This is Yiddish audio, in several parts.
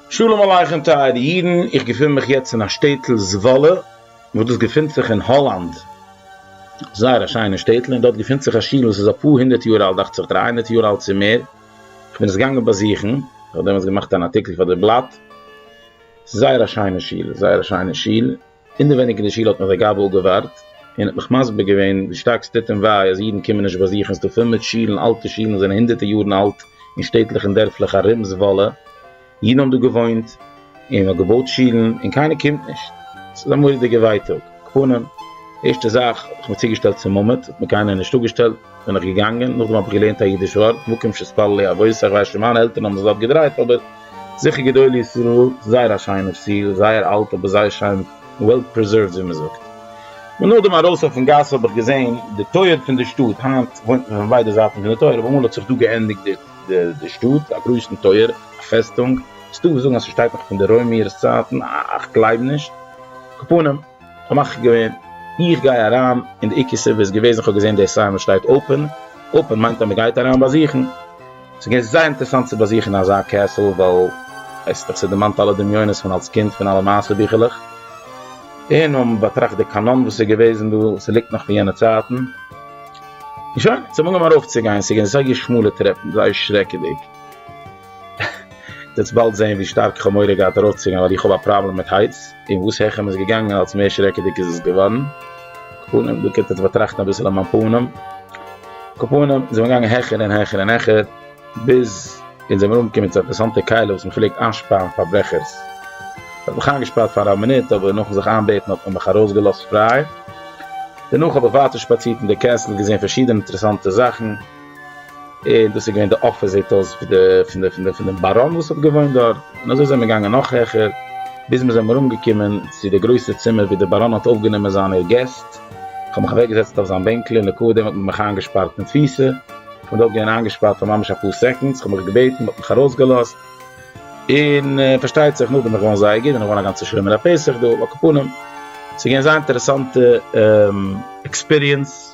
שלום עליכם טייערע אידן, איך געפין מיך יעצט אין א שטעטל זוואלע, וואס דאס געפינט זיך אין האלאנד, זייער א שיינע שטעטל, און דארט געפינט זיך א שול וואס איז אפאר הונדערט יאר אלט, דאכט זיך דרײַ הונדערט יאר אלט צו מער, איך בין עס געגאנגען באזוכן, איך האב דעמאלטס געמאכט אן ארטיקל פאר די בלאט, ס'איז זייער א שיינע שול, זייער א שיינע שול. אינדערווייניג אין די שול האט מיך דער גאב ד אפגעווארט און האט מיך מסביר געווען ווי שטארק ס'טוט אים וויי אז אידן קומען נישט באזוכן ס'דא פול מיט שולן אלטע שולן וואס זענען הונדערטער יארן אלט אין שטעטלעך און דערפלעך ארום זוואלע אידן האבן דא געוואוינט און מ'האט געבויט שולן און קיינער קומט נישט ס'איז א מורא'דיגע ווייטאג קאפאנען ערשטע זאך האב איך מיר צוגעשטעלט צום מעמד האט מיר קיינער נישט אפגעשטעלט בין איך געגאנגען נאכדעם האב איך געלערנט א אידיש ווארט מקום שתפללי אבותיך ווייסט שוין מיינע עלטערן האבן זיך דארט געדרייט אבער. זיכער גדולי ישראל, זייער א שיינער סיל, זייער אלט אבער זייער שיין וועל פריזערווד ווי מ'זאגט. און נאכדעם ארויס אויפן גאס האב איך געזעהן די טויער פון די שטאט, היינט וואוינט מען פון ביידע זייטן פון די טויער אבער אמאל האט זיך דא געענדיגט די שטאט, א גרויסן טויער, א פעסטונג, ס'דא וואס זאגן אז ס'שטייט נאך פון די רוימערס צייטן, א כ'גלייב נישט, קאפאנעם. כ'האב מחליט געווען איך גיי אריין און די עיקר סיבה איז געוועזן כ'האב געזען די סיין וואס שטייט אופען, אופען מיינט אז מ'גייט אריין באזוכן, ס'איז געווען זייער אינטערעסאנט צו באזוכן אזא קעסל ווייל ווייסט איך ס'דערמאנט אלע דמיונות פון אלס קינד פון אלע מעשה ביכלעך, און מיר האבן באטראכט די קאנאן וואס איז געוועזן דא, ס'ליגט נאך פון יענע צייטן, און שוין, אונז האבן אנגעהויבן ארויפצוגיין, ס'איז געווען זייער שמאלע טרעפן, זייער שרעקעדיג, איר וועט באלד זען ווי שטארק איך האב מורא געהאט ארויפצוגיין ווייל איך האב א פראבלעם מיט הייטס. און וואס העכער מען איז געגאנגען אלץ מער שרעקעדיג איז עס געווארן. קאפאנעם, דא קענט עטס באטראכטן אביסל אויף מיין פנים. קאפאנעם, זעמיר געגאנגען העכער און העכער און העכער, ביז אונז זעמיר אנגעקומען צו א אינטערעסאנטע קהלה וואס מען פלעגט איינשפארן פארברעכערס. מען האט מיך איינגעשפארט פאר א מינוט, אבער נאכן זיך איינבעטן האט מען מיך ארויסגעלאזט פריי. דערנאך האב איך ווייטער שפאצירט אין די קעסל, געזען פארשידענע אינטערעסאנטע זאכן. דאס איז געווען די אפאזיט הויז פון דעם באראן וואס האט געוואוינט דארט, און אזוי זענען מיר געגאנגען נאך העכער, ביז מיר זענען אנגעקומען צו די גרויסע צימער וואו דער באראן האט אויפגענומען זיינע געסט, איך האב מיך אוועקגעזעצט אויף זיין בענקל און לקח דעם האט מען מיך איינגעשפארט אין תפיסה, איך בין דארט געווען איינגעשפארט פאר ממש אפאר סעקאנדס, איך האב מיך געבעטן, מען האט מיך ארויסגעלאזט, און פארשטייט זיך נאכדעם איז געווארן זייער גוט און נאכגעווען א גאנצע שלומערליי פסח דא, על הכפלים, ס'איז געווען זייער אינטערעסאנטע עקספיריענס.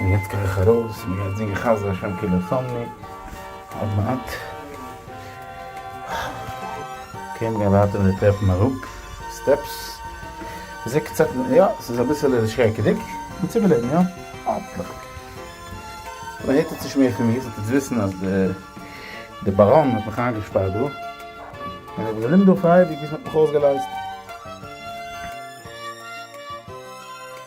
און יעצט גיי איך ארויס און גיי זינגען חסדי השם כי לא תמני עוד מעט קען גיין ווייטער מיט די טרעפן אראפ סטעפס זע קצת יא ס'איז אביסעלע שרעקעדיג אבער צו געלעבן יא האפנטליך אויב מ'הערט עטס נישט מער פון מיר זאלט עטס וויסן אז די באראן האט מיך איינגעשפארט דא און איך בין געבליבן דא פאר אייביג ביז מ'האט מיך אויסגעלייזט.